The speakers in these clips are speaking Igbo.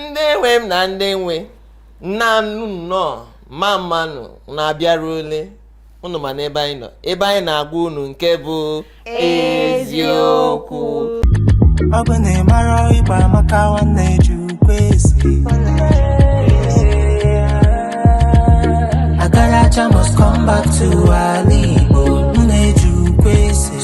ndị nwe m na ndị nwe nnọọ nụ nnọọ mma mma nụ na abịarule unu ma n'ebe anyị nọ ebe anyị na-agwa unu nke bụ eziokwu ọ bụ na ị mara Igbo amaka nwanne ji ukwe esi agaracha must come back to ala Igbo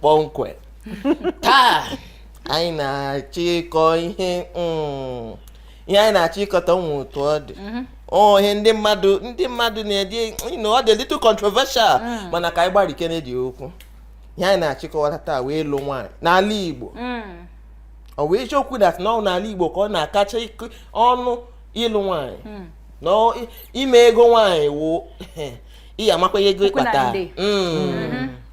kpọmkwem taa anyị na-achọ ịkọ ihe mm, ihe anyị na-achọ ịkọ taa nwe otu ọ dị mhm. oh, ihe ndị mmadụ ndị mmadụ na-edi ọ dị little controversial mm. mana ka anyị gbarikenedi okwu ihe anyị na-achọ ịkọwa taa wụ ịlụ nwaanyị n'ala Igbo mm. ọ wụ eziokwu that na ọ wụ n'ala Igbo ka ọ na-akacha ọnụ ịlụ nwaanyị na ime ego nwaanyị wụ ị ga-amakwa ego ị kpata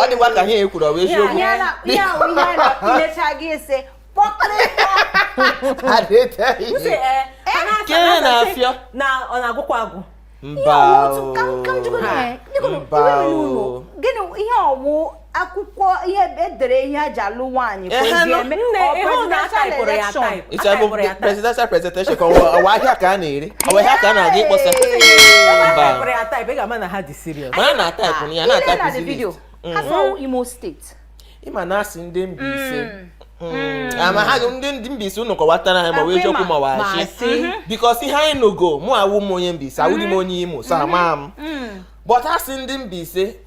ọ dịkwa ka ihe e kwuru ọ bụ eziokwu ihe ahụ ihe a na-emecha gị ese na-afịọ na ọ na-agwụkwa agwụ mba mba ihe ọ wụ akwụkwọ ihe e dere ihe a ji alụ nwaanyị ka o ji eme ọ presidential presentation ka ọ wụ ahịa ka a na-ere ọ wụ ahịa ka a na-aga ịkpọsa mana na ataịpụ ya na ataịpụ Imo State ị ma na a sị ndị Mbaise mm. Hmm. Hmm. ama ha ndị ndị Mbaise unu kọwatara anyị ma ọ wụ eziokwu ma ọ wụ ashị mhm. because ihe anyị nogo mụ awụ m onye Mbaise awụdị m mhm. onye Imo so ama m mhm. but a sị ndị Mbaise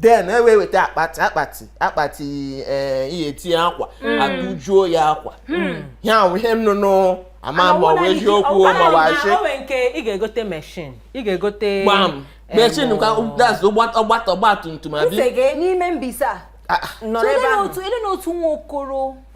then e wee weta akpati akpati akpati ee ihe e tinye akwa hmm. a tụjuo ya akwa hmm. ya wụ ihe m nụnụ ama m ma ọ bụ eziokwu ma ọ wụ ashị nke ị ga-egote meshin ị ga-egote gbam machine ka ọgbata ọgbatumtum a bịa n'ime Mbaise ah, ah. nọ n'ebe ahụ ele na otu nwa okoro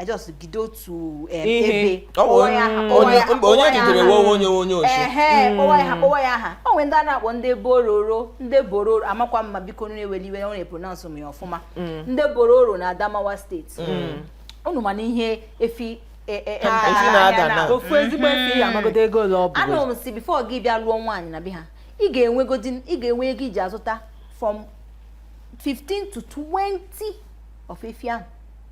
I just gide otu um, Ihe. ebe Ọ bụ kpọwa ya aha, onye- kpọwa ya aha, mba, onye kpọwa ya jidere aha. nwa onye onye ochi. Ehe, kpọwa ya aha kpọwa ya aha o nwere ndị a na-akpọ ndị bororo ndị bororo amakwa m ma biko unu ewele iwe ọ na epronounce m ya ọfụma ndị bororo na Adamawa State unu ma na ihe efi e- e- e- Ah, efi na-ada ahịa na- na- ofu ezigbo efi ya amagodo ego ole ọ bụ anụrụ m sị before gị bịa lụọ nwaanyị na be ha ị ga-enwegodi ị ga-enwe ego ị ji azụta from 15 to 20 of efi ahụ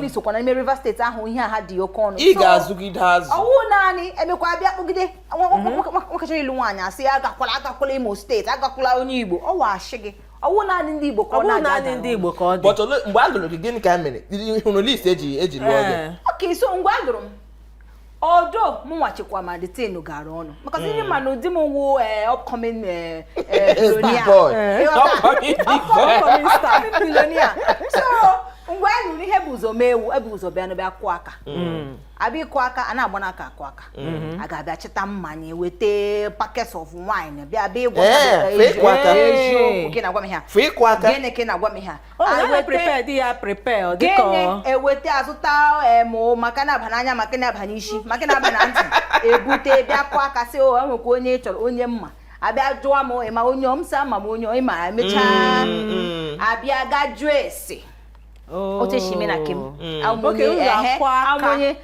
Ogoni sokwa n'ime Rivers State ahụ ihe ha dị oke ọnụ ị ga-azụgide azụ ọ wụ naanị e mekwa bịa kpụgide nwakachara mhm. ịlụ nwaanyị a sị ya agakwala agakwala Imo State agakwala onye Igbo ọ wụ a sị gị ọ wụ naanị ndị Igbo ka ọ na-aga ndị Igbo ka ọ dị mgbe a lụrụ gị gịnị ka a mere hụrụ list e ji e ji lụọ gị okay so ngwa a lụrụ m odo mụnwa chekwa ma the thing gara ọnụ maka sị ndị ma na ụdị m wụ eh, upcoming eh, eh, billionaire. boy. Eh, ọga- upcoming star, billionaire. so ngwa a lụrụ ihe bu ụzọ mee wụ ebu ụzọ bịa n'ebe akụ aka abịa ịkụ aka a na-agba n'aka akụ aka a ga-abịa chịta mmanya weta packets of wine bịa bịa ịgwa Eh, fake waka. eziokwu gị na-agwa m ihe a. fụ ịkụ aka gịnị ka ị na-agwa m ihe a Oh, I went prepared ya prepare ọ dịka ọ eweta azụta em ma nke na-aba n'anya ma nke na-aba n'isi ma nke na-aba na ntị ebute bịa kụọ aka sị o nwekwa onye ị chọrọ onye mma abịa jụọ m ịma onye m sị ama m onye ịma emechaa mm, mm. abịa ga jụọ ese otu esi eme na kem amụnye ehe amụnye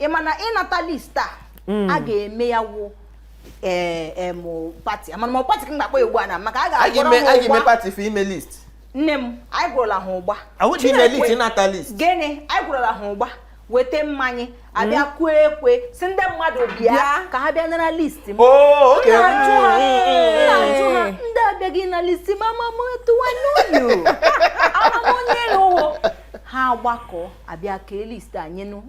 ị ma na ịnata list a hmm. a ga-eme ya wụ ee eh, eh, party amana m party ka m ga-akpọ ya ugbu a na maka a ga-agwọrọ ha ụgba party for ime list nne m anyị gwọrọla ha ụgba gịnị anyị gwọrọla ha ụgba weta mmanya abịa hmm? kụọ ekwe sị ndị mmadụ bịa ka ha bịa nara list m oh, ndị abịaghị na list m amamụ tụwa n'ụlọ amamụ onye ụwo ha gbakọ abịa kee list anyị nụ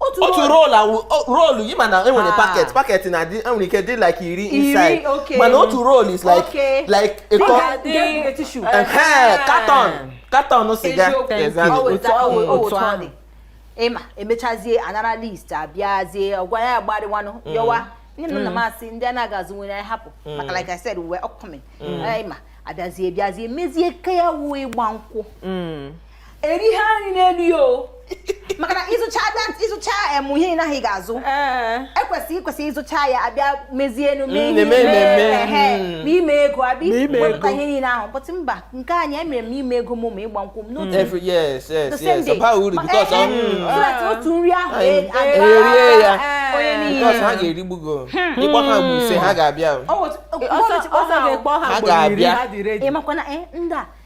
otu roll roll ịma na enwere ah. packet packet na-adị enwere ike dị like iri inside mana otu roolu is like like a carton carton siga ịma emechazie anara list abịazie ọgwa ya agbarịwanụ mm. yọwa nne na nna m mm. asị ndị a na-aga azụ nwere anyị hapụ mm. maka like I said we were upcoming ịma abịazie bịazie mezie nke a wụ ịgba nkwụ eri ha nri n'elu ya o maka na ịzụcha that ịzụcha em ihe ị naghị ga-azụ ekwesị ịkwesị ịzụcha ya abịa mezienu mee ihe hmm. na ime ego abịa wepụta ihe niile ahụ but mba nke anyị emere m ime ego m ma ịgba nkwụ m n'otu otu nri ahụ e- erie ya ha ga-erigbu gị hmm. ịkpọ ha bụ ise ha ga-abịa ha ga-abịa ịmakwana eh, ndị a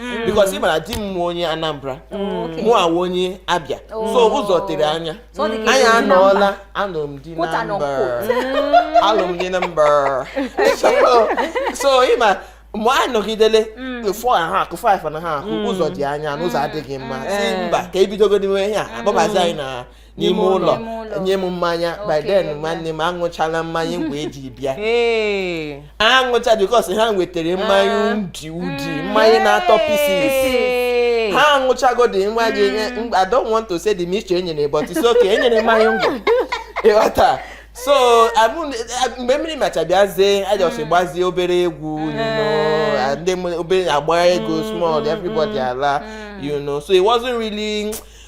mm. because ị mara di m wụ onye Anambra mm. mụwa onye Abia oh. so ụzọ tere anya anyị anọọla alụrụ m di na mba alụrụ m di na mba so ịma mgbe anyị nọgidele four akụ five na-akụ ụzọ dị anya na ụzọ adịghị mma sị mba ka e bidogodinu ihe a akpọbazi anyị na n'ime ụlọ nye m mmanya by then nwanne m aṅụchala mmanya ngwa eji bịa aṅụcha because ha wetara mmanya ah. udi udi mm. mmanya na-atọ pieces ha aṅụchagodi nwa gị mm. I don't want to say the mixture enyere but it's okay enyere mmanya ngwa ịghọta so mgbe mmiri macha bịazie a just mm. gbazie obere egwu ndị obere agba ego small everybody ala you know so it wasn't really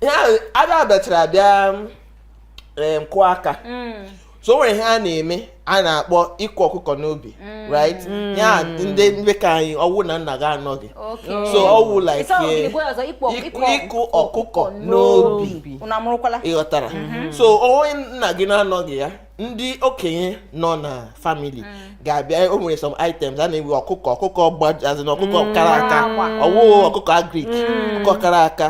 ya ada bịachara bịa ịkụ aka mm. so o nwere ihe a na-eme a na-akpọ ịkụ ọkụkọ n'obi mm. right mm. ya ndị ndị ka anyị ọwụ na nna gị anọghị so ọwụ like ịkụ ọkụkọ n'obi ịghọtara mm-hmm. so onye nna gị na-anọghị ya ndị okenye nọ na family ga-abịa o nwere some items a na-ewe ọkụkọ ọkụkọ gbajazi na ọkụkọ kara aka ọwụ ọkụkọ agric ọkụkọ kara aka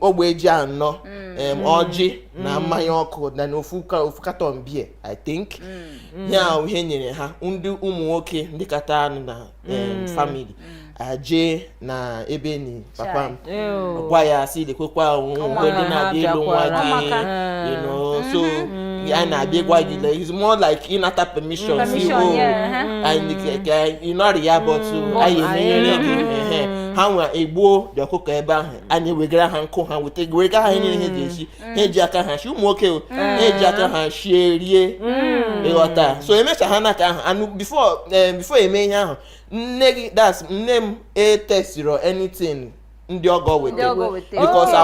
ogbe ji anọ mm. ọjị na mm. mmanya ọkụ na ofu carton beer i think mm. ya ihe nyere ha ndị ụmụ nwoke ndị kata nụ na family aje na ebe e ni papa m gwa ya sị lekwekwa o nwe ndị na-abịa ịlụ nwa gị so mm-hmm. a na-abịa gwa gị like it's more like ịnata permission sị o ị nọrọ ya but anyị emenyere gị ha nwa egbuo the ọkụkọ ebe ahụ anyị wegara ha nkụ ha weta wega ha ihe niile ha ji esi mm. ha eji aka ha shi ụmụ nwoke mm. ha eji aka ha shie rie mm. ịghọta so emechaa nke ahụ nụ before eh, before eme ihe ahụ nne gị that's nne m etesiro anything ndị ọgọ weta because oh.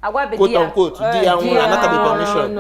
agwabe quote unquote di ya eh, nwụrụ anatabe permission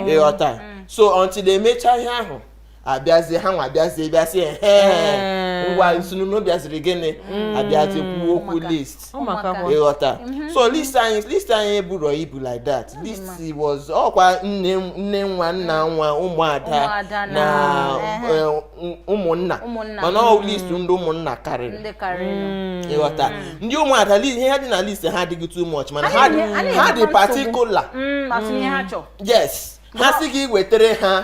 ịghọta so until emecha ihe ahụ abịazie ha nwa abịazie bịa sị ehe Ee. ngwa unu sị unu bịaziri gịnị abịazie kwuo okwu Ụmụaka. list ụmụaka Ụmụaka. bụ ịghọta so list anyị list anyị eburọ ibu like that list was ọkwa nne nne nwa nna nwa ụmụada Ụmụada na na- ehe. eh, ụm- ụmụnna Ụmụnna. mana ọ list ndị ụmụnna karịrị ndị karịrị ịghọta ndị ụmụada li- ihe ha dị na list ha adịghị too much mana Anyị ha dị- na-enye- anyị ha dị na-enyekwa nsogbu. particular Mm, asị ihe ha chọrọ yes ha sị gị wetere ha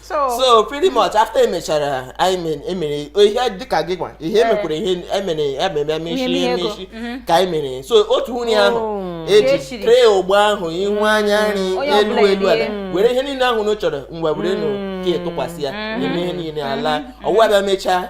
so pretty much after emechara anyị emere ihe dịka gị gwa ihe eh. emekwara ihe emere ememe emechi emechi mhm. ka anyị mere so otu nwunye ahụ oh. eji tray ogbo ahụ ihu mm. anya nri elu elu ala mm. were ihe niile ahụ na chọrọ mgbe were nụ mm. ka tụkwasị ya eme ihe niile ala ọwụwa bịa mechaa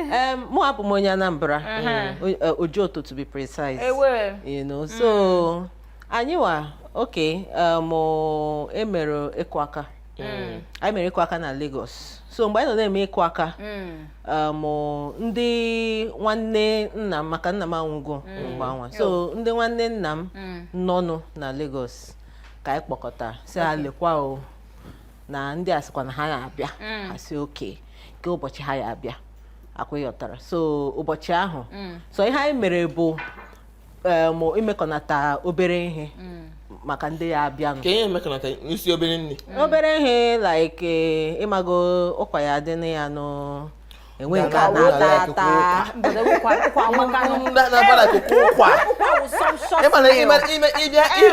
Um, mụnwa abụ m onye Anambra uh-huh. Ojoto to be precise you know so mm. anyị wa okay um, emere ịkụ aka mm. anyị mere ịkụ aka na Lagos so mgbe anyị nọ na-eme ịkụ aka mm. um, ndị nwanne nna m maka nna m anwụgo mgbe anwa so ndị nwanne nna m nọnụ na Lagos ka anyị kpọkọta sị ha lekwa o na ndị a sịkwa na ha ya abịa mm. ha sị okay kee ụbọchị ha ya abịa ọkwa ịghọtara so ụbọchị ahụ mm. so ihe anyị mere bụ um, imekọnata obere ihe mm. maka ndị ya abịanụ ka ihe emekọnata isi obere nri obere ihe like eh, ịmago ụkwa ya dị na ya nụ enwe nke a na-ata ata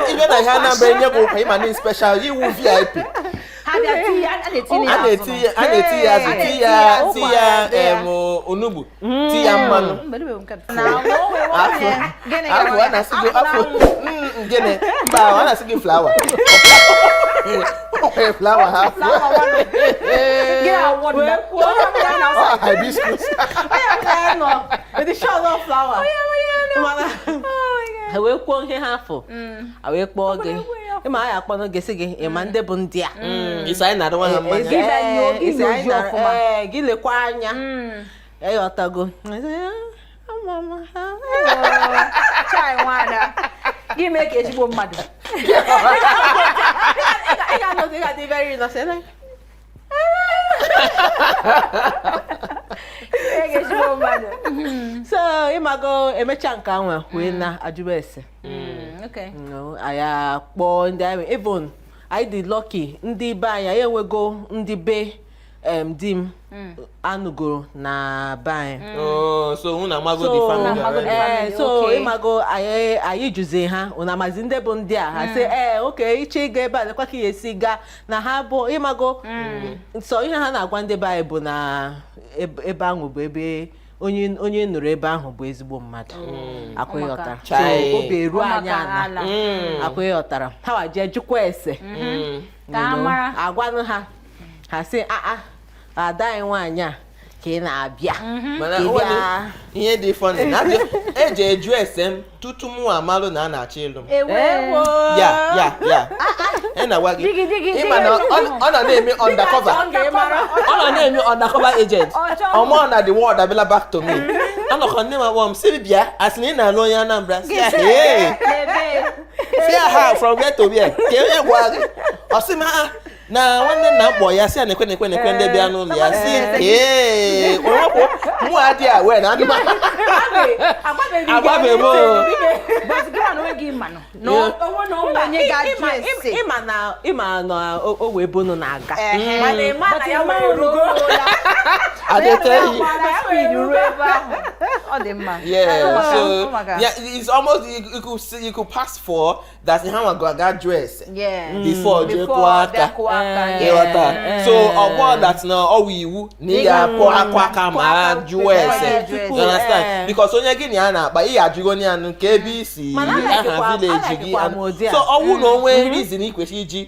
ị bịa na ihe Anambra e nye gị ụkwa ịma na special ị wụ VIP a na-eti ya azụ ti ya ti ya onugbu ti ya mmanụ afọ a na-asị gị afọ gịnị mba a na-asị gị flower flower ha hibiscus ha wee kwuo ihe ha afọ a wee kpọọ gị ịma anyị akpọnụ gị sị gị ịma ndị bụ ndị a ị sị anyị na-adịwa ha mma gị lekwa anya ịghọtago gị mee ka ezigbo mmadụ so ịmago emecha nke anwa wee na-ajụba ese anyị akpọọ ndị anyị even anyị dị lucky ndị be anyị enwego ndị be em di m hmm. anụgoro na be anyị hmm. oh, so unu amago the family already ee eh, so ịmago anyị jụzi ha unu amazi ndị bụ ndị a ha hmm. sị ee eh, okay ị chọọ ịga ebe a lekwa ka ị ya-esi gaa na ha bụ ịmago so ihe ha na-agwa ndị be anyị bụ na ebe ahụ bụ ebe onye onye nụrụ ebe ahụ bụ ezigbo mmadụ mm. akwa ịghọtara so obi eru anyị ana akwa ịghọtara ha wa jee jụkwa ese mm-hmm. mm. agwanụ ha ha sị aa ah, ah, ada anyị nwaanyị a ka ị na-abịa mhm. ihe dị funny e jee jụọ ese m tutu mụ amalụ na a na-achọ ịlụ m e ya ya ya ị na-agwa gị ịma na ọ nọ na-eme undercover ọ nọ na-eme undercover agent ịma na the word abịala back to me anọkọ nne m akpọ m siri bịa a sị na ị na-alụ onye Anambra sị ya hee sị ya ha from where to where kee onye gwa gị ọ sị m ha ah, na nwanne nna m kpọ ya sị ya na ekwe na ekwe na ekwe ndị bịa n'ụlọ ya sị ee onwepụ mụ adị aware na adị m agbabeghị m ịma na o wee bunu na-aga mana ịma na ya wee ruo adịteghị ọ dị mma yeah so yeah it's almost you could pass for gasị ha nwago aga jụọ ese Yes. before jee Before kụọ aka bịa kụọ aka, Eh, yes. ịghọta eh, so eh. ọ bụ that na ọ wụ iwu na ị ga-akụ akụ aka ma ha jụọ ese Eh, jụọ You ese. understand? Eh. because onye gị na ya na-akpa ị ga-ajụgo onye anụ kee ebe i si Mana aha anaghịkwa- village gị anaghịkwa m ụdị a. so ọ wụ na o nwe reason ị kwesịrị iji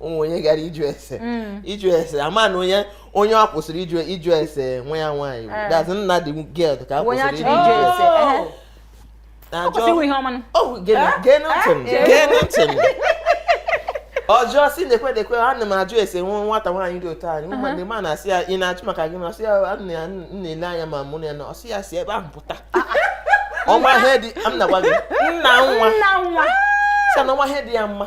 o nwe onye gara ịjụ ese mm. ịjụ ese ama na onye onye o kwesịrị ịjụ ịjụ ese nwa ya nwaanyị eh. that's nna the girl ka e kwesịrị ịjụ ese oh. ọ jụọ sị na-ekwe na-ekwe ana m ajụ ese nwa nwata nwaanyị dị otu anyị ụmụ ndị ma na-asị ya ị na-achụ maka gị na ọsị ya na-ele anya ma mụ na ya na ọsị ya si ebe ahụ pụta ọ wụ ihe dị m na-agwa gị nna nwa sị na ọ wụ ihe dị ya mma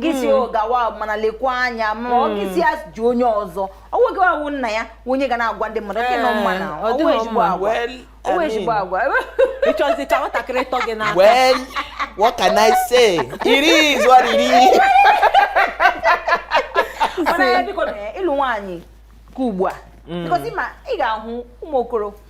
gị si hmm. gawa mana lekwa anya ma ọ gị si ajụ onye ọzọ ọ wụghị awụ nna ya onye ga na-agwa ndị mmadụ okay nọ mma na o nwe ezigbo agwa o nwe ezigbo agwa ị chọzị ka nwatakịrị tọ gị n'aka well what can i say it is what it is mana ya biko na ịlụ nwaanyị ka ugbu a hmm. because ma ị ga-ahụ ụmụ okoro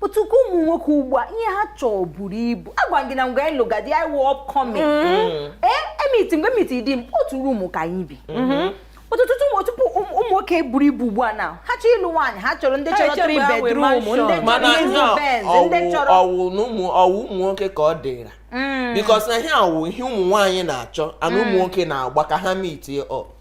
but ka ụmụ nwoke ugbu a ihe ha chọọ buru ibu agwa gị na mgbe anyị lụga di anyị wụ upcoming ee m meet mgbe m meet di m otu room ka anyị bi mm-hmm. ọtụtụ tupu ụmụ nwoke buru ibu ugbu a na ha chọọ ịlụ nwaanyị ha chọrọ ndị chọrọ three bedroom ndị chọrọ ịzụ benz ndị chọrọ ọ wụ na ụmụ ọ wụ ụmụ nwoke ka ọ dịra mm. because na ihe ọ wụ ihe ụmụ nwaanyị na-achọ and ụmụ mm. nwoke na-agba ka ha meet up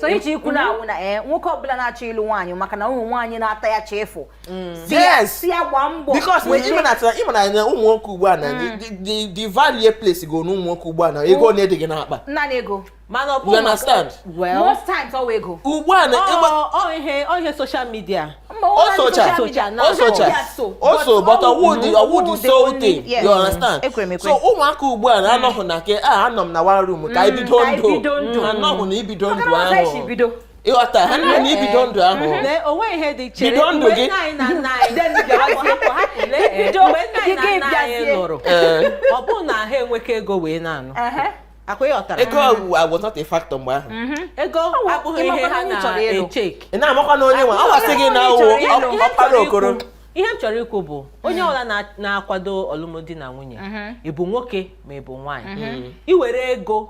so iji ikwu na ọ wụ na ee eh, nwoke ọbụla na-achọ ịlụ nwaanyị maka na ụmụ nwaanyị na-ata ya chefu mm. sị ya gbaa mbọ because ị ma na ụmụ nwoke ugbu a na mm. the value place go n'ụmụ nwoke ugbu a na ego ole dị gị n'akpa nna na ego mana ọ bụ well most times ọ wụ ego ugbu a na ọ ihe social media o socha o socha o so but ọ wụ the ọ wụ the sole thing you understand so ụmụaka ugbu a na-anọghị na ke a anọ m na one room ka ibido ndụ anọghị na ibido ndụ ahụ ị ghọta ha nọ na ibido ndụ ahụ bido ndụ gị ọ bụrụ na ha enwekọ ego wee na-anụ akwa ị ghọtara ego was not a factor mgbe ahụ ego abụghị ihe ha na-echeck ị na-amakwa na onye nwe ọ wasị gị na ọ wụ Ihe m chọrọ ọkpara ikwu- okoro ihe m chọrọ ikwu bụ onye ọbụla na- na-akwado ọlụmdi na nwunye ị bụ nwoke ma ị bụ nwaanyị i were ego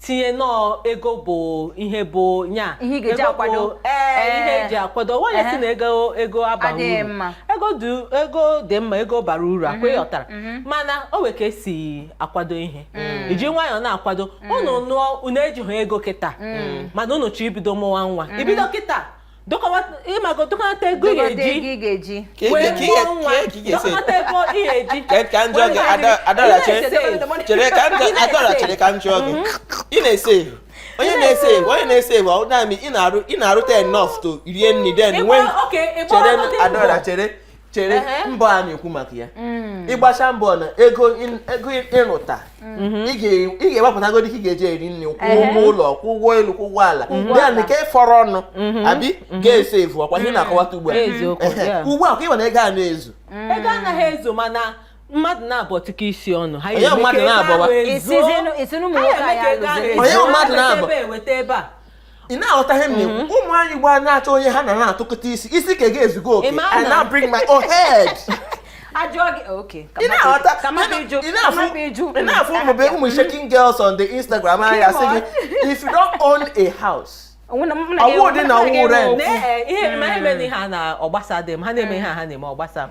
tinye na ọ ego bụ ihe bụ nya Ihe ị ga-eji ego bụ- akwado. ee ihe Ee. eji akwado nwaanyị Ehe. sị na ego ego abaghị Adịghị uru mma. ego dị ego dị mma ego bara uru akwa ị ghọtara mana o nwere ka esi akwado ihe Mm. iji nwayọọ na-akwado mm. unu nụọ unu ejighị ego kịta mm. mana unu chọọ ibido mụwa nwa mm-hmm. ibido kịta ị mago dokọnata ego ị ga-eji wee mụọ nwa dokọnata ego ị ga-eji ka m jụọ gị adora chere ka m jụọ adora chere ka m jụọ gị ị na-esave onye na-esave ego onye na-esave ego ọ na-amị ị na-arụ ị na-arụta enough to rie nri then nwee chere adora chere chere mbọ a na-ekwu maka ya mm. ị gbachaa mbọ na ego ị rụta mm-hmm. ị ga-ewepụtago dịka ị ga-eji eri nri kwụ ụgwọ ụlọ kwụ ụgwọ elu kwụ ụgwọ ala ya na nke fọrọ ọnụ mm-hmm. abi mm-hmm. ga-eso evu ọkwa ihe m na-akọwata ugbu a ugbu a ka ị ma na ego a na-ezu mm. ego anaghị ezu mana mmadụ naabọ tụkọọ isi ọnụ ha onye mmadụ naabọ onye mmadụ naabọ ị na-aghọta ihe m na-ekwu mhm. ụmụ nwaanyị ugbu a na-achọ onye ha na ya na-atụkọta isi isi ke gị ezugo okay I now bring my own head ị na-afụ ụmụ be ụmụ shaking girls on the Instagram ha asị gị if you don't own a house ọ wụ dị na ọ wụ rent ihe mere ihe ha na ọ gbasa dị m ha na-eme ihe ha na-eme ọ gbasa m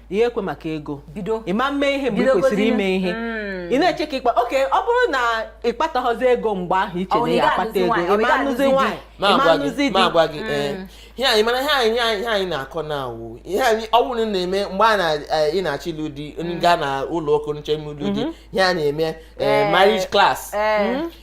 ihe ekwe maka ego bido ị ma mee ihe mgbe ị Bidogozie. kwesịrị ime ihe Mm. ị na-eche ka ị kpa okay ọ bụrụ na ị kpataghịzi ego mgbe ahụ ị chee Ọ, na ị ya akpata ga-anụzi ego nwaanyị, ọ, ị ị ma ga-anụzi anụzi di. nwaanyị ị ma na-agwa anụzi gị di na-agwa gị ee ihe anyị mana ihe anyị ihe anyị- ihe anyị na-akọ na ọ wụ ihe anyị ọ bụrụ na ị na-eme mgbe a na eh, ị na-achọ ịlụ di onye gaa na ụlọ ụka nche ime ịlụ di ihe a na-eme eh, marriage class Eh.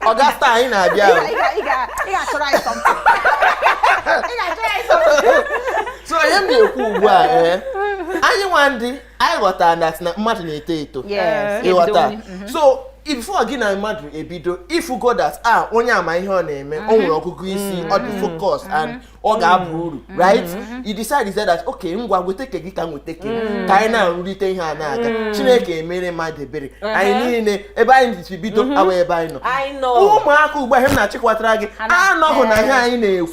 Ọga Star anyị na-abịa Ị ga- ị ga- ị ga- ị ga-achọrọ anyị something. Ị ga-achọrọ anyị something. so ihe m na-ekwu ugbu a ee anyị nwa ndị anyị ghọtara na sị na mmadụ na-eto eto Yes, ị ghọta ebido. so before gị na mmadụ ebido ị fụgo that ah onye a ma ihe ọ na-eme o nwere ọgụgụ isi ọ dị focus and ọ mm. ga-aba uru mm. right mm. you decide that okay ngwa weta ke gị ka m weta ke m ka anyị na-arụrịta ihe a na-aga Chineke emere mmadụ ebere uh-huh. anyị niile ebe anyị si bido mm-hmm. awụ ebe anyị nọ ụmụaka ugbu a ihe m na-achọ ịkọwatara gị anọghị na ihe anyị na-ekwu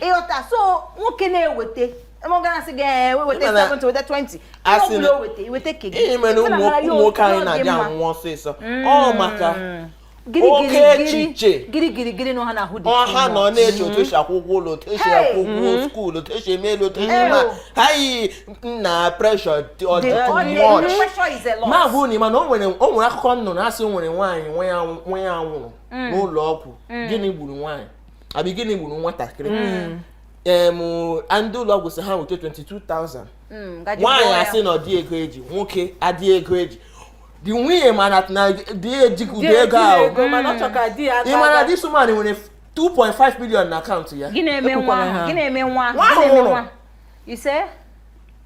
ị ghọta so nwoke na-eweta mọgasị ga-eweta 70 weta 20 ọ bụla o weta ị weta ke gị ihe mere ụmụ nwoke anyị na-adị anwụ ọsịsọ mm. ọ maka oke echiche gịrịgịrịgịrị na ọha na-ahụ dị ọ ha nọ na-eche otu esi akwụ ụgwọ ụlọ otu esi akwụ ụgwọ mm-hmm. school otu esi eme elu otu esi eme ha yi na pressure na-abụ na ị ma na o nwere akụkọ m nụrụ a sị o nwere nwaanyị nwa ya nwụrụ mm. n'ụlọ ọgwụ mm. gịnị gburu nwaanyị abi gịnị gburu nwatakịrị mm. em ndị ụlọ ọgwụ sị ha weta 22,000 mm, nwaanyị asị na ọ dị ego e ji nwoke adị ego e ji di nwunye mana na di ejighị ụdị ego ahụ ị ma na this woman nwere 2.5 million na account ya gị na-eme nwa nwa ahụ nwụrụ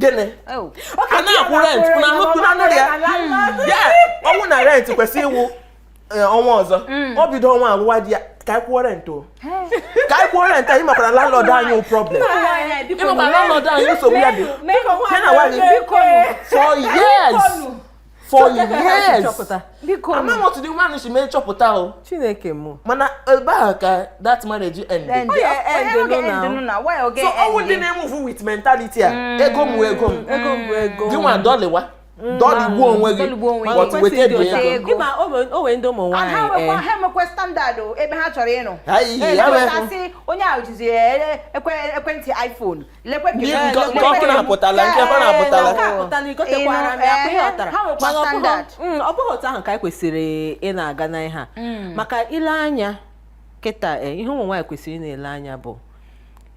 gịnị oh. a na-akwụ rent na nnukwu na nụrụ ya ya ọ wụ na rent kwesị ịwụ eh, ọnwa ọzọ mm. o bido ọnwa a gwawa di ya ka anyị kwụọ rent o ka anyị kwụọ rent anyị makwara landlord anyị problem ị makwara landlord anyị nsogbu ya dị ha na nwaanyị for years for years ama m otu di nwaanyị si mee chọpụta o chineke mụ mana ebe ahụ ka that marriage end so ọ wụ ndị na-emuvu with mentality a mm. ego m wụ ego m gị nwa dọlịwa mm. dọlịgbuo onwe gị but weta ego ya o nwere ndị ụmụ nwaanyị eh. ha emekwe standard ebe ha chọrọ ịnụ onye ahụ jizi eh, eh, ekwentị iPhone ọkụ na-apụtala nke ọkụ na-apụtala ọ bụghị otu ahụ ka anyị kwesịrị ịna-aga na ihe a mm. maka ile anya kịta eh, ihe ụmụ nwaanyị kwesịrị ịna-ele anya bụ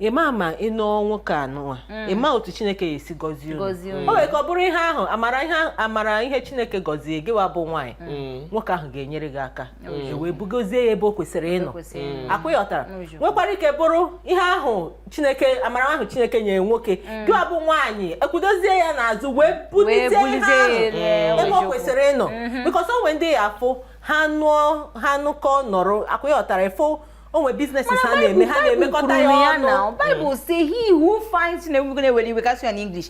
ịma ma ị nụọ nwoke anụwa mm. ịma otu chineke ya-esi gọzie unu o nwere ike bụrụ ihe ahụ amara ihe chineke gọzie gịwa bụ nwaanyị mm. nwoke ahụ ga-enyere gị aka e wee bugozie ya ebe o kwesịrị ịnọ mm. ọ kwa ị ghọtara nwekwara ike bụrụ ihe ahụ chineke amara ahụ chineke nyere nwoke mm. gịwa bụ nwaanyị ekwudozie ya n'azụ wee bulite ihe ahụ ebe o kwesịrị ịnọ mm-hmm. because o nwe ndị ị ya-afụ ha nụọ ha nụkọ nọrọ ọ kwa ị ghọtara ị fụ o nwe business ha na-eme ha na-emekọta ya ọnụ Bible say he who finds na-ewere iwe kasị ya n'English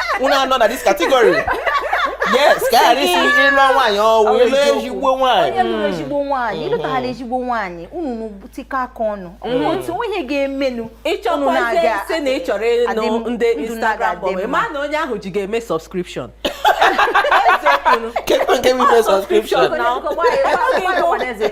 unu anọ na this category yes ka ghara isi ịlụ nwaanyị ọ wụ ịlụ ezigbo nwaanyị onye lụrụ hmm. ezigbo nwaanyị ịlụtaghara hmm. ezigbo nwaanyị unu nụtika aka ọnụ hmm. otu onye ga-emenụ ị chọkwazi ịsị na ị chọrọ ịnụ ndị Instagram bọbụ ma na onye ahụ ji ga-eme subscription kedu nke bụ ime subscription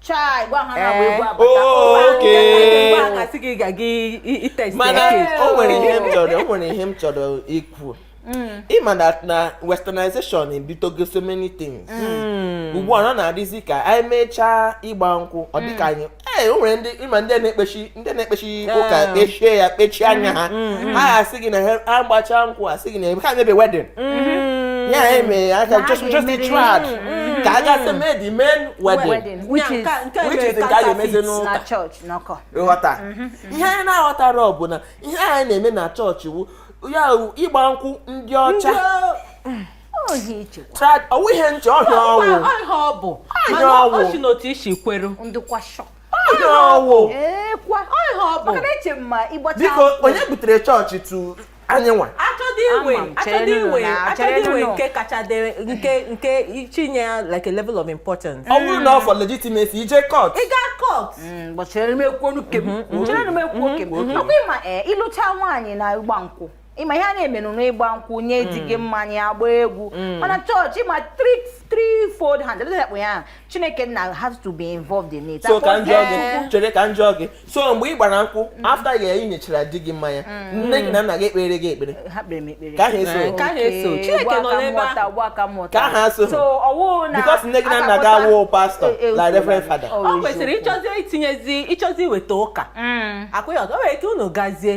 chai gwa ha na-agba egwu abata Oh, okay. Mgbe a na-asị gị ga gị itest mana eke o nwere ihe m chọrọ o nwere ihe m chọrọ ikwu ị ma na na westernization ebutego so many things ugbu a na na-adịzi ka anyị mechaa ịgba nkwụ ọ dịka anyị ee o nwere ndị ị ma ndị a na-ekpechi ndị na-ekpechi ụka kpechie ya kpechie anya ha ha asị gị na ha agbachaa nkwụ asị gị na ha emebe wedding ya eme aka just just the trad ka a gasị mee the main wedding which is nke a ga-emezi n'ụka ghọta ihe anyị na-aghọtarọ bụ na ihe anyị na-eme na chọọchị wụ ya ịgba nkwụ ndị ọcha ọ wụ ihe nche ọ ihe ọ wụ ọ ihe ọ bụ mana ọ si n'otu isi kweru biko onye butere chọọchị to anyịnwa achọdị iwe achọdị iwe achọdị iwe nke kacha dere nke nke chinye ya like a level of importance. ọ bụrụ na ọ for legitimacy i je court. ị gaa court. gbachara mm, m ekwuo nke m. gbachara mm-hmm. m ekwuo nke m. ọ kwa ị ma eh, ị lụcha nwaanyị na ịgba nkwụ. ịma ihe a na-emenụ n'ịgba nkwụ nye di gị mmanya agba egwu mana chọọchị ma threefold hand ebe ya kpụ ya chineke nna has to be involved in it so ka m jụọ gị chere ka m jụọ gị so mgbe ị gbara nkwụ mm. after ya ị nyechara di gị mmanya mm. nne gị na nna gị ekpeere gị ekpere ka ha eso ka ha eso chineke nọ n'ebe ahụ ka ha so because nne gị na nna gị awụ pastọ e, e, like reverend father ọ kwesịrị ịchọzi itinyezi ịchọzi iweta ụka mm. akwụghị ọzọ o nwere ike unu gazie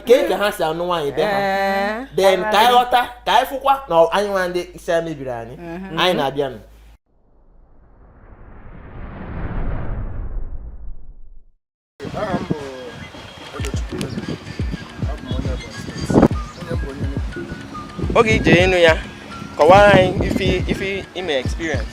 kee ka ha si anụ nwaanyị be ha then ka anyị ghọta ka anyị fụkwa na anyị nwa ndị isi a mebiri anyị mhm. anyị na-abịanụ oge i je ịnụ ya kọwara anyị ife i me experience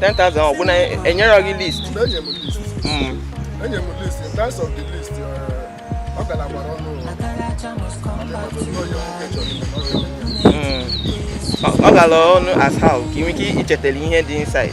10,000 ọ bụ na enyerọ gị list enye m list mm. enye m list in terms of the list uh, ọ gara gbara ọnụ mm. ọ gara ọnụ as how ka ị nwee ike ichetara ihe dị inside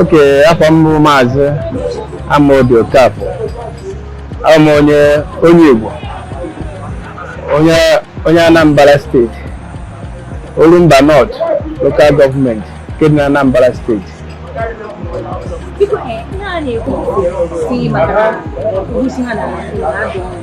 okay afa m bụ maazị Amaobi Okafọ abụ m onye onye Igbo onye onye Anambra steeti Orumba North lokal gọọmenti nke dị na Anambra steeti Biko, eh, ihe a na-ekwu si maka na ha na-ada ọnụ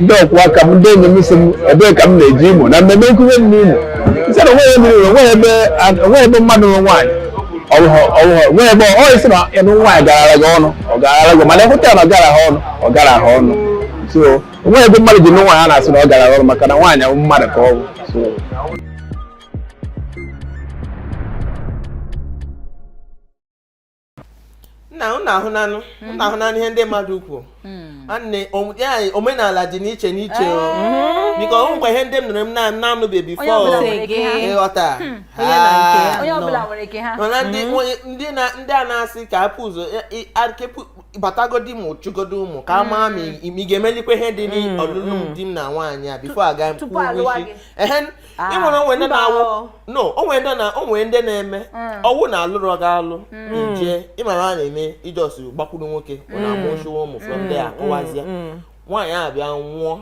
ndị ọkwụ aka m ndị enyi m sị m ebee ka m na-eje Imo na mmemme nwunye m n'Imo m sị na onweghị mmiri onweghị ebe onweghị ebe mmadụ nwe nwaanyị onweghị ebe ị sị na ịnụ nwaanyị garara gị ọnụ ọ garara gị mana ịhụta ya na ọ gara ha ọnụ ọ gara ha ọnụ so onweghị ebe mmadụ ji nụ nwaanyị a na-asị na ọ gara ha ọnụ maka na nwaanyị ahụ mmadụ ka ọ bụ so nna unu ahụnanụ unu mhm. ahụnanụ ihe ndị mmadụ kwuo hmm. nne omenala dị n'iche n'iche eh. biko ọ wụkwa ihe ndị m nụrụ m na-anụbe before ịghọta hmm. mana ndị a na-asị ka e bu ụzọ batagodi mụchagodi ụmụ ka a maa ma ị ga-emelikwa ihe dị n'ọlụlụ hmm. di m na nwaanyị a before a ga mkpụrụ isi Ah, ị mara o nwe ndị na-awụ no o nwe ndị na o nwe ndị na-eme mm. ọ wụ na alụrụ gị alụ mm. i je ị mara a na-eme ị just gbakwuru nwoke ọ mm. na-amụchiwa ụmụ from there akụwazie nwaanyị a bịa nwụọ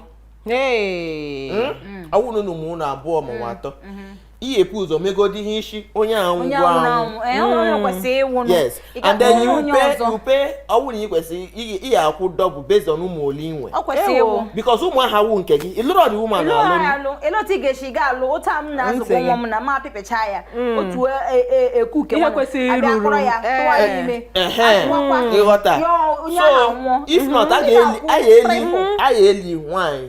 hmm? ọ wụ na ị mụọla abụọ ma ọ wụ atọ mm-hmm. ị ya-ebu ụzọ megodi ihe isi onye ahụ eh, yes and then you pay you pay ọ bụrụ na ị kwesịrị ị ya akwụ double based on ụmụ ole i nwe ọ kwesịrị ịwụ because ụmụ aha wụ nke gị ị lụrụ ọ dị ụmụ anụ alụ elee otu ị ga-esi ga alụ otu a m na-azụkọ ụmụ m na ma apịpịcha ya mm. otu eku nke nwa abịa kpọrọ ya tụwa ya eh, ime eh, eh. ị ghọta so if not a ga-eli nwaanyị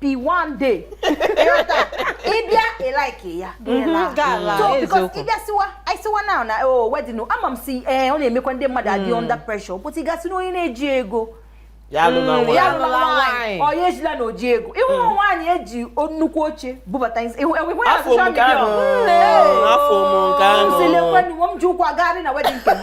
be one day ị bịa like ya mhm, so because ị bịa siwa anyị siwa na na o wedding ama m si ee eh, ọ na-emekwa ndị mmadụ adị hmm. under pressure but ị ga-asị na onye na-eji ego ya alụla hmm, nwaanyị onye ejila na o ji ego ịhụ hmm. nwaanyị e ji nnukwu oche bubata ịhụ ya social media sị lekwenụ m ji ụkwụ agagharị na wedding nke m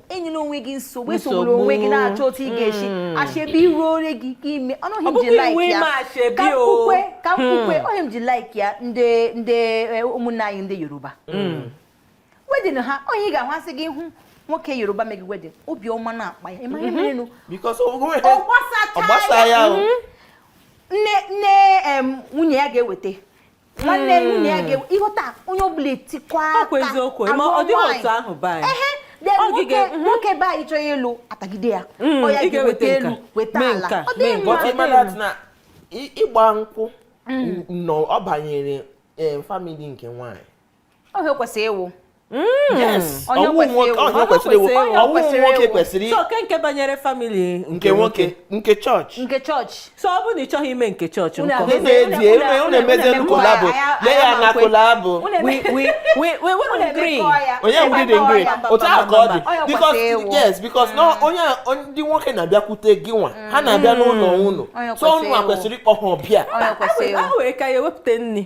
enyela onwe gị nsogbu esogbula onwe gị na-achọ otu ị ga-esi hmm. achebe iru ore gị ka i me ọnụghị m ji like ya ka mkpukwe ka mkpukwe hmm. ọ ihe m ji like ya ndị ndị e, ụmụnne anyị ndị Yoruba hmm. wedding ha onye ị ga-ahụ asị gị hụ nwoke Yoruba meghe wedding obiọma na-akpa ya ị ma ihe merenụ ọ gbasa ya nne nne nwunye ya ga-eweta nwanne hmm. nwunye ya ga-enwe ị ghọta onye ọ bụla etikwa aka eziokwu ma ọ dịghị otu ahụ baa ehe nwoke mhm. nwoke be anyị chọọ ịlụ a tagide ya hmm, ọ ya ga-eweta elu weta ala ọ dị mma ịgba nkwụ hmm. na ọ banyere eh, family nke nwaanyị ọ ihe kwesịrị ịwụ hmm. ọ wụ nwoke kwesịrị okay nke banyere family nke nwoke nke chọọchị nke chọọchị so ọ bụrụ na ị chọghị ime nke chọọchị unu emezie collabo lee ya na collabo onye ngwụdị ngwụdị otu ahụ ka ọ dị because yes because na hmm. onye ndị nwoke na-abịakwute gị nwa ha na-abịa hmm. n'ụlọ unu so unu kwesịrị ịkpọ ha ọbịa a were ka ya ewepụta nri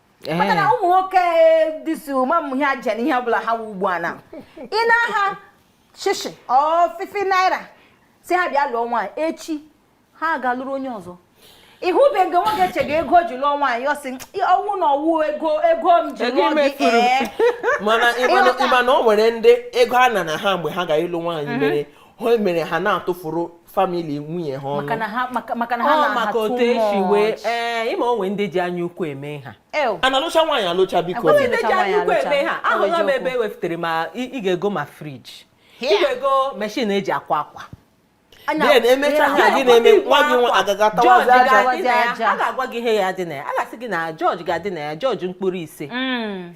Eh. maka na ụmụ nwoke dịsi ụma m ihe aja na ihe ọ bụla ha wụ ugbu a na ị naa ha shishi or fifty naira sị ha bịa lụọ nwaanyị echi ha ga-alụrụ onye ọzọ ị hụbeghị nwoke chega ego ji lụọ nwaanyị ọ sị ọ wụ na ọ wụ ego ego m ji lụọ gị ee eh. mana ị ma na o nwere ndị ego a nana ha mgbe ha ga-ịlụ nwaanyị mm-hmm. mere ha mere ha na-atụfuru family nwunye ha ọnụ ọ maka otu e si wee ee ị ma o nwe ndị ji anya ukwu eme ha a na-alụcha nwaanyị alụcha biko ndị ji anya ukwu eme ha ahụla m ebe e wepụtara ma ị ga-ego ma fridge ị ga-ego machine e ji akwa akwa then e mecha ha gị na-eme nwa gị nwa agaga tawazi aja a ga-agwa gị ihe ya-adị na ya a ga-asị gị na George ga-adị na ya George mkpụrụ ise mm.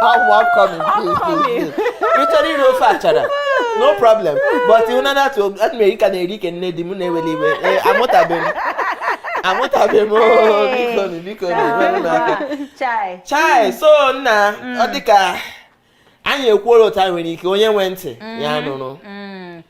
How I'm coming, please, please, please. Ị chọrọ iri ofe achara. No problem. But you know that to that me ka na-eri ke nne di mụ na-eweli iwe. Eh, amụtabe. Amụtabe mụ o bikonụ bikonụ wenụ na aka. Chai. Chai, so nna, ọ dịka anyị ekwuola otu anyị nwere ike onye nwe ntị ya nụrụ.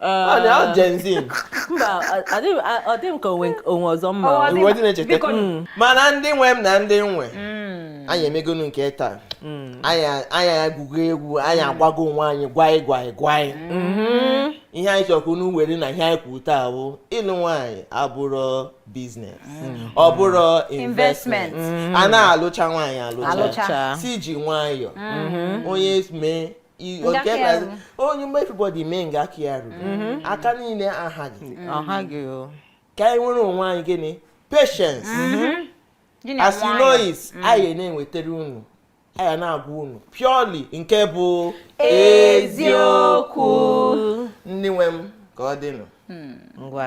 ọ Gen Z mba ọ dị m ka onwe ọzọ mma iwe dị na-echeta mm. mana ndị nwe m na ndị nwe mm. anyị emegonu nke taa mm. anyị agụgo egwu anyị agwago onwe anyị gwaị gwaị gwaị mm-hmm. ihe anyị chọ ka unu were na ihe anyị kwuru taa bụ ịlụ nwaanyị abụrụ business ọ bụrụ investment a na-alụcha nwaanyị alụcha si ji nwayọọ mm-hmm. onye mee onye mee everybody mee nga aka ya ruru mm-hmm. aka niile ahaghị mm-hmm. ka anyị nwere onwe anyị gịnị patience mm-hmm. as you know it anyị na-ewetara unu anyị na-agwa unu purely nke bụ eziokwu ndị nwe m ka ọ dịnụ hmm. ngwa